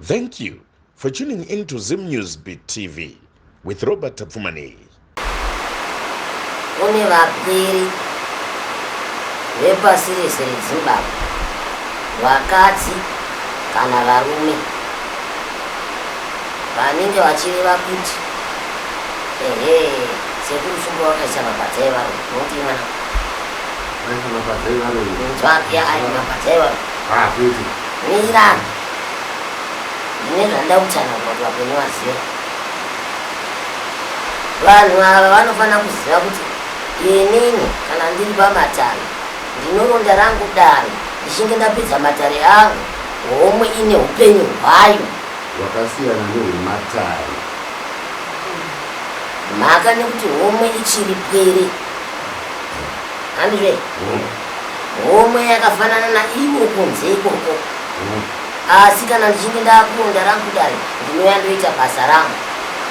Thank you for tuning in to Zim News Beat TV with Robert Tapfumani. Kune vapwiri vepasi rese reZimbabwe, vakadzi kana varume, vanenge vachireva kuti ehe sekuru shumba wakaisa mabadza evarume unoti mwana Aisa mabadza evarume. nzwaki ayi mabadza evarume Ah, kuti. mirani Ini zvandida kutsanangura kuti vapenyu vazive. Vanhu ava vanofanira kuziva kuti inini kana ndiri pamatare ndinoronda rangu dare ndichinge ndapedza matare angu homwe ine upenyu hwayo hwakasiyana nehwematare mhaka nekuti homwe ichiri pwere hanizve Homwe yakafanana naivo kunze ikoko. Asi kana ndichinge ndakuonda rangu dare ndinouya ndoita basa rangu.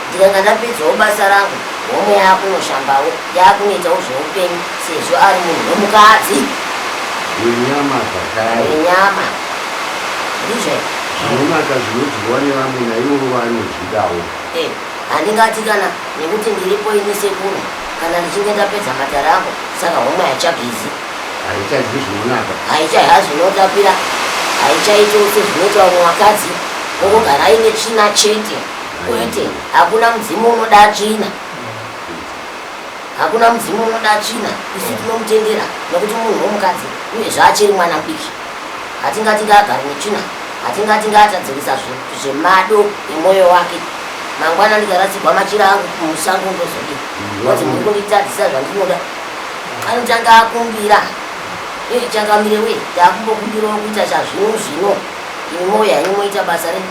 Ndikanga ndapedzawo basa rangu homwe yakunoshambawo yakunoitawo zveupenyu sezvo ari munhu wemukadzi. Wenyama zvakare. Wenyama. Ndizvo. Zvinonaka zvinodyiwa nevamwe naivo vanozvidawo. Eh. Handingati kana nekuti ndiripo ini sekuru kana ndichinge ndapedza matare ako saka homa haichabizi. Haichazwi zvinonaka. Haichaiha zvinotapira. Haichaito sezvinoita vamwe vakadzi vokugara aine tsvina chete. Kwete, hakuna mudzimu unoda tsvina. Hakuna mudzimu unoda tsvina, isu tinomutendera nekuti munhu wemukadzi uyezve achiri mwana mudiki. Hatingati ngaagare netsvina, hatingati ngaatadzirisa zvemado emwoyo wake. Mangwana ndikarasikwa machira angu kumusango ndozodi kuti muri kunditadzisa zvandinoda. Anotanga akumbira, ichangamire wee, takumbokumbirawo kuita chazvino zvino. Imoya inomoita basa re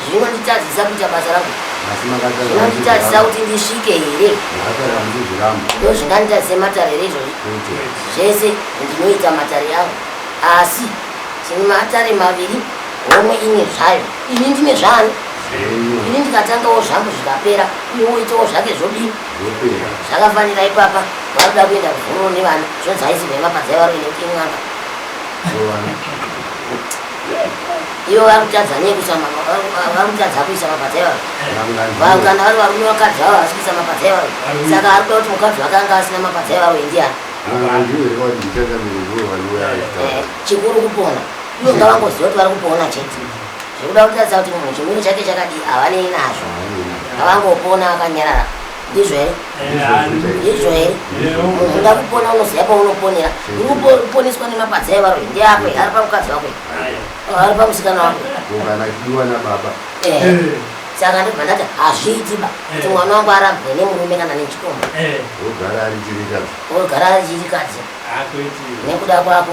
zvinonditadzisa kuita basa rangu zvinonditadzisa kuti ndisvike here ndo zvinganditadzise matare here izvozvi zvese ndinoita matare angu asi tine matare maviri homwe ine zvayo ini ndine zvayo ini ndikatangawo zvangu zvikapera uye woitawo zvake zvodii zvakafanira ipapa vakuda kuenda kuvhuroo nevana zvonzi haisi vemapadza yavaroinekuti imwanga ivo vari kutadza nei kuisa vari kutadza kuisa mabadza ivavo vavo kana vari varume vakadzi vavo havasi kuisa mabadza ivavo saka ari kuda kuti mukadzi wake anga asina mabadza ivavo indiani eh, chikuru kupona ivo ngavangoziva kuti vari kupona chete zvekuda kutadza kuti munhu chimiro chake chakadii havanei nazvo ngavangopona vakanyarara ndizvo here ndizvo here unoda kupona unoziva paunoponera urikuponeswa nemapadza evaroi ndeako ari pamukadzi wako ari pamusikana wako saka ndibva ndati hazviiti ba kuti eh. mwana wangu arambwe nemurume kana nechikomba eh. ogara ari chirikadzi nekuda kwako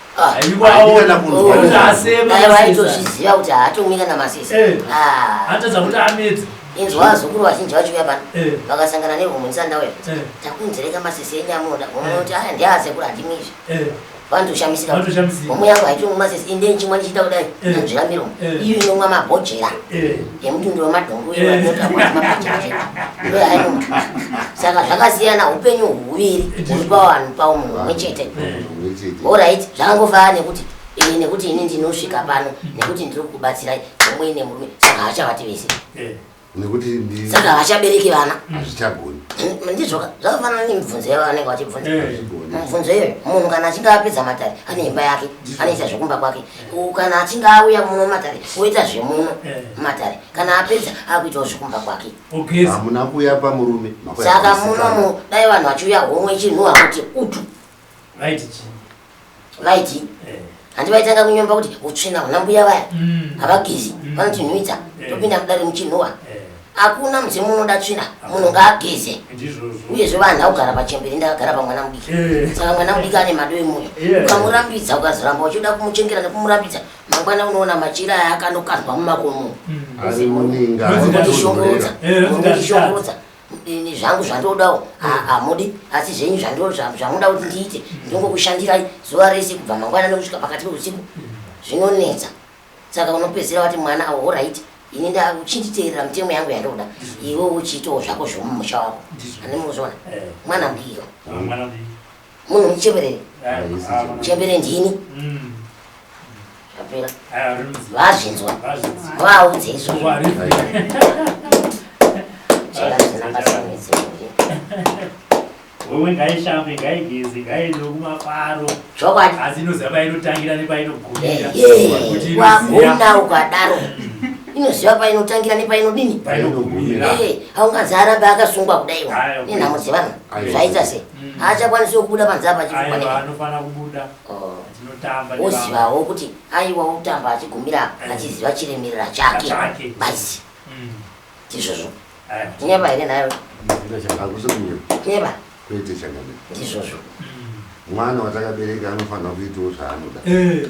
aitozviziva kuti haatumwi kana masisi eh. ah. atadza kuti amedze inzwa vazukuru vazhinji vachiuya pano eh. vakasangana nevhomunisanda uya eh. takunzereka masisi enyu amunoda vomwe kuti aya ndiasekuru handimwi izvi vandoshamisika vomwe yangu haitumwi masisi inde nchimwa ndichiita kudai anzvira miromo iyo inomwa mabhojera emutundi wemadhongu iyo anoti amwa mabhojera ndoyo ainoma saka zvakasiyana upenyu huviri huri pavanhu pavo munhu umwe chete orit zvangova nekuti ini nekuti ini ndinosvika pano nekuti ndiri kukubatsirai omwe nemurume saka havachavati vese eh. nekuti saka havachabereki vana hazvichagoni mm, ndizvoka zvakafanana nemibvunzo yavo vanenge vachibvunza eh. mibvunzo iyoyo munhu kana achinge apedza matare ane imba yake anoita zvekumba kwake kana achinge auya muno matare oita zvemuno eh. matare kana apedza akuitawo zvekumba kwake hamuna kuuya pamurume saka munomu dai vanhu vachiuya homwe chinhu hakuti utu Vaiti chii? Vaiti? Eh. Handi vaitanga kunyomba kuti utsvina huna mbuya vaya. Mm. Havagezi, mm. vanotinhuwidza, eh. topinda mudare muchinhuwa. Eh. Hakuna mudzimu unoda tsvina, munhu ngaageze. Uyezve vanhu haugara pachembere ndakagara pamwana mudiki. Eh. Saka mwana mudiki ane mado emuya. Ukamurambidza ukazoramba uchida kumuchengera nekumurambidza, mangwana unoona machira aya akanokandwa mumakomo. Mm. Muzimundishongotsa, mundishongotsa. ini zvangu zvandodawo hamudi asi zvenyu zvamuda kuti ndiite ndongokushandirai zuva rese kubva mangwana nekusvika pakati peusiku zvinonetsa saka unopedzera wati mwana awo horaiti ini ndauchinditeerera mitemo yangu yandoda iwe uchiitawo zvako zvomumusha wako animuzona eh. mwana mbiyo munhu muchebereni muchebereni ndini apera vazvinzwa vaudze izvo chera zvisina basa netsei wewe ngaishambe ngaigeze ngaende kumafaro chokwadi asi inoziva painotangira nepainogumiraagona eh, ukadaro inoziva painotangira nepainodini eh, aungazi arambe akasungwa kudai nenhamo dzevanhu zvaita sei mm. haachakwanisi wekubuda panze apa achifanaaanofanira kubuda oh. tinotamba wozivawo kuti aiwa wotamba achigumira mm. achiziva chiremerera chake bazi mm. ndizvozvo nyeba here nayo nyeba kwete chakana ndizvozvo mwana watakabereka anofanira kuitawo zvaanoda eh.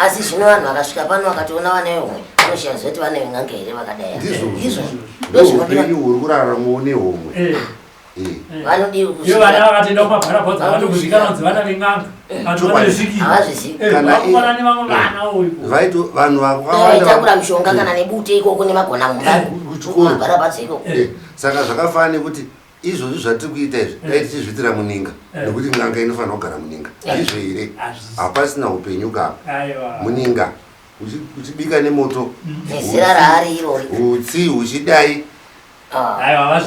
asi zvino vanhu vakasvika pano vakatoona vana vehomwe vanoshiya zoti vana veng'anga here vakadai ndizvo ndozvoupenyu huri kuraramawo nehomwe eh. eh. vanodiiyo vana vakatoenda kumabharabhodza vanokuzvikana kunzi vana veng'anga eh. vanozvizivakufanani vamwe vana oivaito vanhu vaaitakura mishonga kana nebute ikoko nemagona mumba kuchikoro bharabhodza ikoko saka zvakafanana nekuti izvozvi zvatiri kuita izvi dai mm. tichizviitira muninga mm. nekuti n'anga inofanira kugara muninga mm. izvo here hapasina upenyu kapa muninga uchibika nemoto nezira raari irori utsi uchidai ah. ah.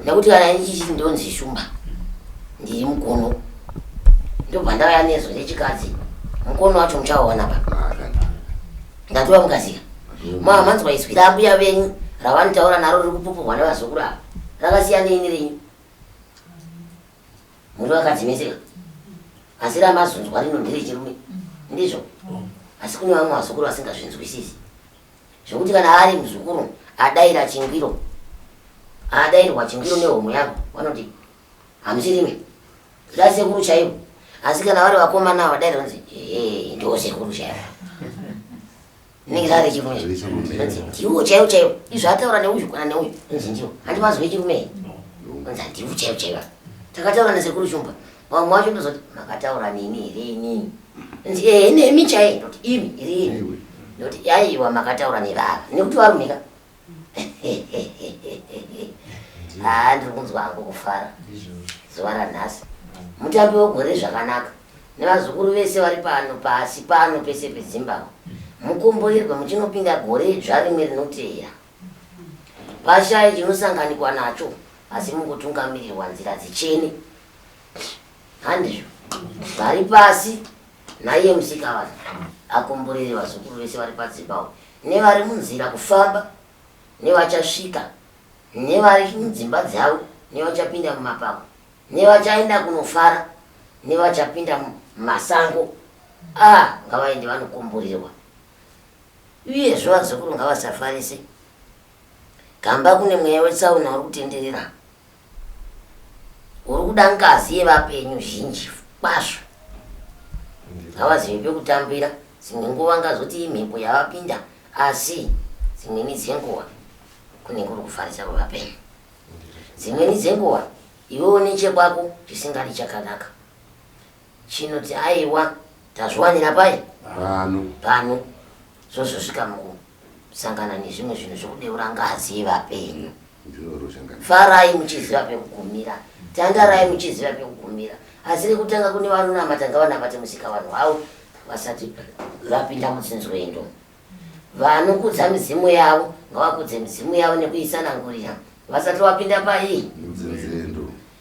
nekuti kana ichichi ndonzi shumba ndiri mukono ndobva ndauya nezo rechikadzi mukono wacho muchaona pa ah, Ndatura mukazika. Mama manzwa izwi rambuya venyu ravanotaura naro riri kupupurwa nevazukuru ava. Rakasiya neini renyu. Muri vakadzimeseka. Asi ramazunzwa rino ndiri chirume. Ndizvo. Asi kune vamwe vazukuru vasingazvinzwisisi. Zvekuti kana ari muzukuru adaira chingwiro. Adairwa chingwiro nehomwe yangu vanoti hamusirime zva sekuru chaivo asi kana vari vakomana ava dai rinzi ee ndiwo sekuru chaivo inenge rave chirume anzi ndiwo chaivo chaivo izvo ataura neuyu kana neuyu anzi ndiwo handivanzwe chirume anzi handiwo chaivo chaivo takataura nesekuru shumba vamwe wacho ndozoti makataura nini here inini anzi ee nemi chaivo ndoti imi iri imi ndoti yaiwa makataura nevava nekuti varumika haa ndiri kunzwa hangu kufara zuva ranhasi mutambi wegore zvakanaka nevazukuru vese vari pano pasi pano pese pezimbabwe mukomboirwe muchinopinda gore idzva rimwe rinoteera pashaye chinosanganikwa nacho asi mukutungamirirwa nzira dzichene handizvo vari pasi naiye musikavanhu akomborere vazukuru vese vari padzimbabwe nevari munzira kufamba nevachasvika nevari mudzimba dzavo nevachapinda mumapako nevachaenda kunofara nevachapinda mumasango a ah, ngavaende vanokomborerwa uye zvo vazukuru ngavasafarise gamba kune mweya wetsaona uri kutenderera uri kuda ngazi yevapenyu zhinji kwazvo havazivi pekutambira dzimwe nguva ngazoti imhepo yavapinda asi dzimweni dzenguva kune kuri kufarisa kwevapenyu dzimweni dzenguva iwewo nechekwako chisingadi chakanaka chinoti aiwa tazviwanira pai pano pano zvozosvika mukusangana nezvimwe zvinhu zvekudeura ngazi yevapenyu farai muchiziva pekugumira tandarai muchiziva pekugumira asi rekutanga kune vanonamata ngavanamate musika vanhu vavo vasati vapinda mutsinzwendo vanokudza midzimu yavo ngavakudze midzimu yavo nekuisanangurira vasati vapinda paii